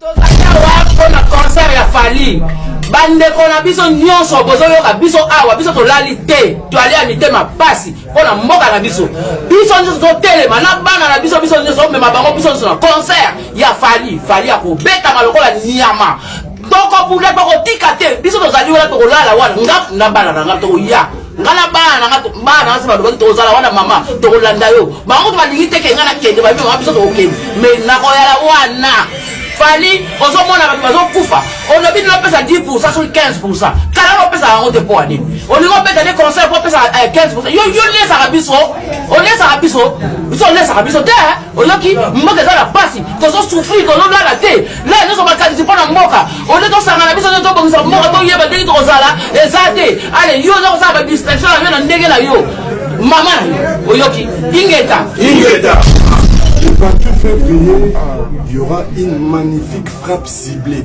Tozali awa mpo na concert ya Fally. Bandeko na biso nyonso bozoyoka biso awa, biso tolali te, toali ya mitema pasi mpo na mboka na biso. Biso nyonso totelema na bana na biso, biso nyonso tomema bango, biso nyonso na concert ya Fally. Fally akobetama lokola nyama tokobunda tokotika te biso tozali wana tokolala wana nga na bana na nga tokoya nga na bana nanga bana nanga se balobaki tozala wana mama tokolanda yo bango balingi teke nga nakende babi mama biso tokokende me nakoyala wana fali ozomona bato bazokufa olobi nini opesa 10 pourcent soki 15 pourcent kala na opesaka yango te mpo anini olingi opesa nde conseil mpo opesaka 15 pourcent yo lesaka biso olesaka biso biso olesaka biso te oyoki mboka eza na pasi tozo souffrir tozolala te la nyonso makanisi mpo na mboka olie tosangana biso nde tobongisa mboka toyeba ndenge tokozala eza te ale yo oza kosala badistraction na yo na ndenge na yo mama na yo oyoki ingeta ingeta Le 28 février, il y aura une magnifique frappe ciblée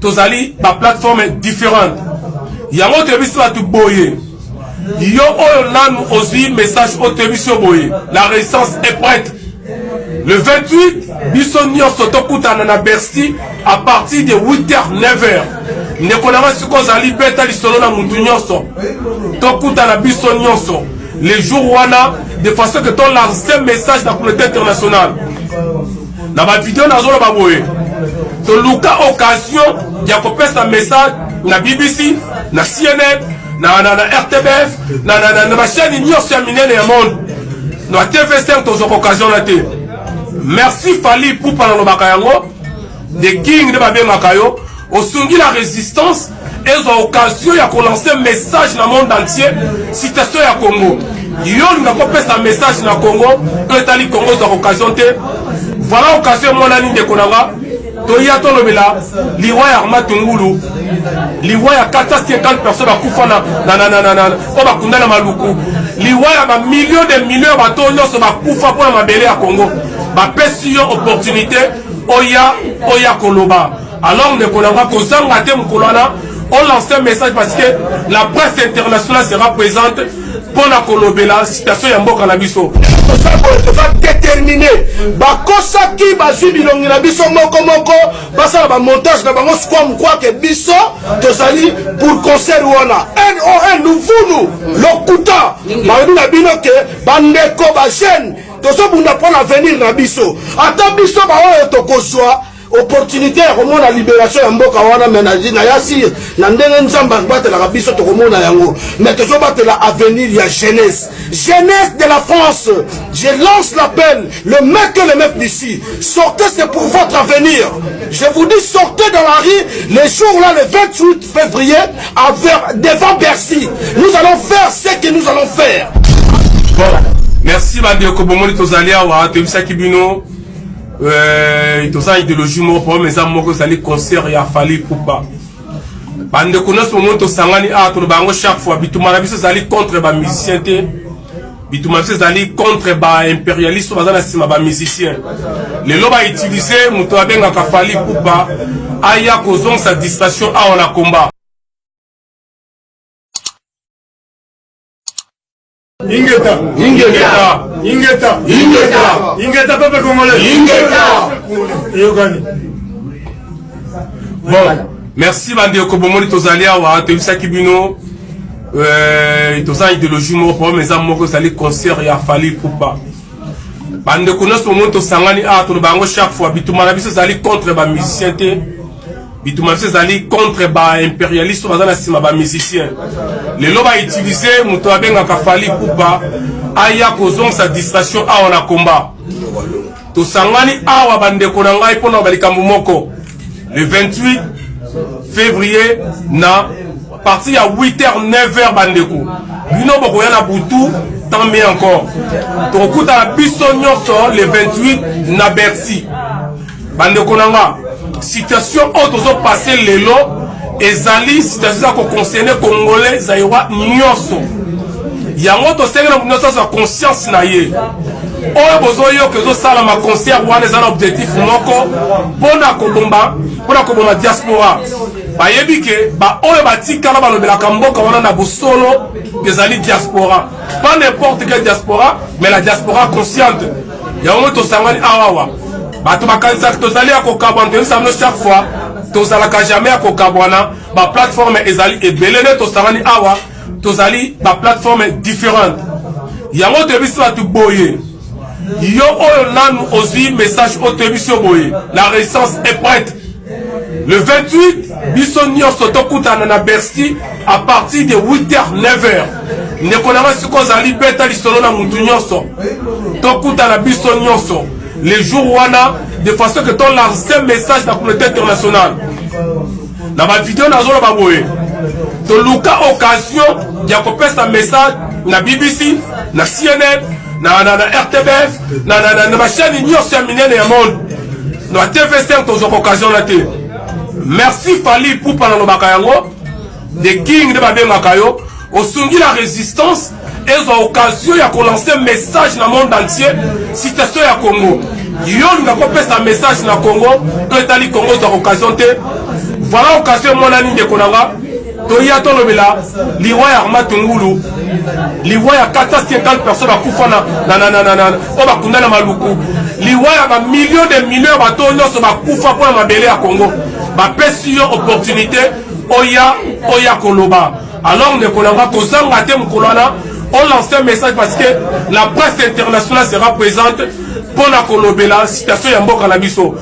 tozali ba plateforme différente yango toyebisi bato boye yo oyo nanu ozwi message oyo toyebisi yo boye la résistance est prête le 28 biso nyonso tokutana na bercy à partir de 8h 9h ndeko na ngai soki ozali beta lisolo na motu nyonso tokutana biso nyonso le jour wana de façon que tolancer message na communauté internationale na bavideo nazoloba boye toluka occasion ya kopesa message na bbc na cnn na, na, na rtbf na, na, na, na bashani nyonso ya minene ya monde na tvsr tozwaka occasion na te merci fali pupa nalobaka yango the king nde babengaka yo osungi la résistance ezwa occasion ya kolanse message na monde entier situation ya congo yo olinga kopesa message na congo to etali congo ezwa occasion te voilà occasion emonani ndeko na nga toya tolobela liwa ya arma tungulu liwa ya 450 personnes bakufa oyo bakunda na maluku liwa ya bamilio de milio ya bato nyonso bakufa mpo na mabele ya congo bapesi yo opportunité oya oya koloba Alors ndeko na nga kozanga te mokolo wana on lance un message parce que la presse internationale sera présente mpo na kolobela situation ya mboka na biso toza déterminé bakosaki bazwi bilongi na biso moko moko basala bamontage na bango sikwa mokwake biso tozali pour concert wana non luvunu lokuta balobi na bino ke bandeko bajeune tozobunda mpo na avenir na biso ata biso baoyo tokozwa opportunité ya komona liberation ya mboka wana me na yasi na ndenge nzambe abatelaka biso tokomona yango me tozobatela avenir ya jeunesse jeunesse de la france je lance l'appel le mec et le mec d'ici sortez c'est pour votre avenir je vous dis sortez dans la rue les jours là le 28 février à vers, devant Bercy nous allons faire ce que nous allons faire bon. merci bandeko bomoni tozali awa toyebisaki bino Euh, toza ideologie moko problème eza moko ezali concert ya fali pupa bandeko nyonso bomoni tosangani awa ah, toloba yango chaque fois bituma na biso ezali contre bamusicien te bituma na biso ezali contre baimperialiste baza na nsima bamusicien lelo bautilize moto abengaka fali pupa aya kozongisa distraction awa na combat Ingeta, ingeta, ingeta, ingeta, ingeta peuple congolais. Ingeta. Eyokani. Bon, merci bandeko bomoni tozali awa toyebisaki bino euh, toza idéologie moko problème eza moko ezali concert ya fali pupa bandeko nyonso bomoni tosangani awa toloba yango chaque fois bituma na biso ezali contre bamusicien te bituma biso ezali contre ba imperialiste baza na nsima ba musicien lelo ba utilise moto abengaka fali pupa aya kozongisa distraction awa na combat tosangani awa bandeko na ngai mpo na balikambo moko le 28 février na parti ya 8h 9h bandeko bino bokoya na butu tant mieux encore tokokutana biso nyonso le 28 na bercy bandeko na nga situation oyo tozopase lelo ezali situation eza koconcerne congolais zairoi nyonso yango tosengeli na moto azwa conscience na ye oyo bozoyoka ezosalama concert wana eza na objectif moko mpona kobomba mpona koboma diaspora bayebi ke baoyo batikala balobelaka mboka wana na bosolo ezali diaspora pas n'importe quel diaspora mais la diaspora consciente yango tosangani awawa bato bakanisaka tozali ya kokabwana toyebisa bino chaque fois tozalaka jamais ya kokabwana baplateforme ezali ebele nde tosangani awa tozali baplateforme différente yango toyebisi bato boye yo oyo nanu ozwi message oyo toyebisi yo boye la résistance est prête Le 28, biso nyonso tokutana na Bercy à partir de 8h 9h. Ndeko na nga siko ozali beta lisolo na mutu nyonso. Tokutana biso nyonso le jour wana de façon que ton lance message na communauté internationale. Na ba vidéo nazoloba boye. Toluka occasion ya kopesa message na BBC, na CNN, na, na, na RTBF, na, na, na, na mashani nyonso ya minene ya monde na tv star tozwaka occasion na te merci fali pupa nalobaka yango the king nde babengaka yo osungi la résistance ezwa occasion ya kolancer message na monde entier situation ya congo yo olinga kopesa message na congo to etali congo ozwa occasion te voilà occasion emonani ndeko na nga toya tolobela liwa ya arma tungulu liwa ya 450 personne bakufa oyo bakunda na maluku liwa ya bamillion de million ya bato nyonso bakufa mpo na mabele ya congo bapesi yo opportunité oya oya koloba alors ndeko na nga kozanga te mokolo wana on lance un message parce que la presse internationale sera présente mpo na kolobela situation ya mboka na biso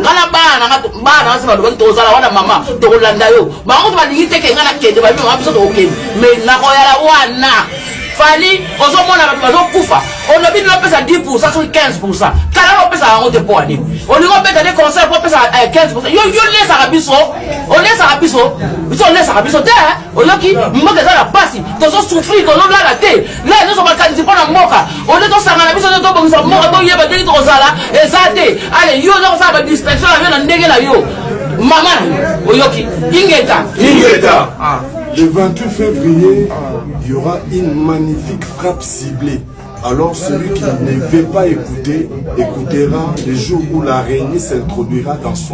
nga na bana nanga bana nanga se balobaki tozala wana mama tokolanda yo bango kutu balingi te ke nga nakende babi mama biso tokokende me nakoyala wana fali ozomona bato bazokufa olobi nini opesa 10 pourcent soki 15 pourcent kala opesaka yango te mpo anini olingi obeta nde conseil mpo opesa 15 eh, pourcent yo olesaka biso olesaka biso biso olesaka biso te oyoki mboka eza na mpasi tozosouffrir tozolala te lelo nyonso makanisi mpo na mboka olie tosangana biso nde tobongisa mboka toyeba ndenge tokozala eza te ale yo oza kosala badistraction na yo na ndenge na yo mama na yo oyoki ingeta ingeta ah. le 28 février il y aura une magnifique frappe ciblée alors celui qui ne veut pas écouter écoutera le jour où l'araignée s'introduira dans son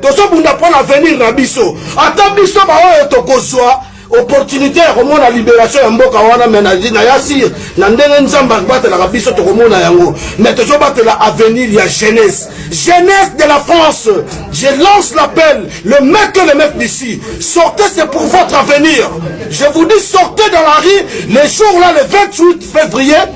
tozobunda mpo na avenir na biso ata biso baoyo tokozwa opportunité ya komona liberation ya mboka wana me na ya sire na ndenge nzambe akobatelaka biso tokomona yango me tozobatela avenir ya jeunesse jeunesse de la france je lance l'appel le mec et le mec d'ici sortez c'est pour votre avenir je vous dis sortez dans la rue les jours là le 28 février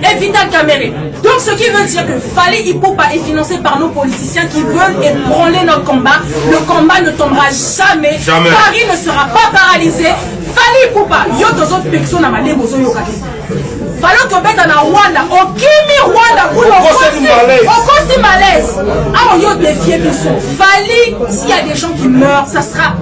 Et Vital Kamerhe. Donc ce qui veut dire que Fali Ipupa est financé par nos politiciens qui veulent ébranler notre combat. Le combat ne tombera jamais. jamais. Paris ne sera pas paralysé. Fali Ipupa, yo tozo pexo na malé bozo yo kaki. Falo tobeta na Rwanda, okimi Rwanda kuna okosi, okosi malaise. Awa yo défier biso. Fali, s'il y a des gens qui meurent, ça sera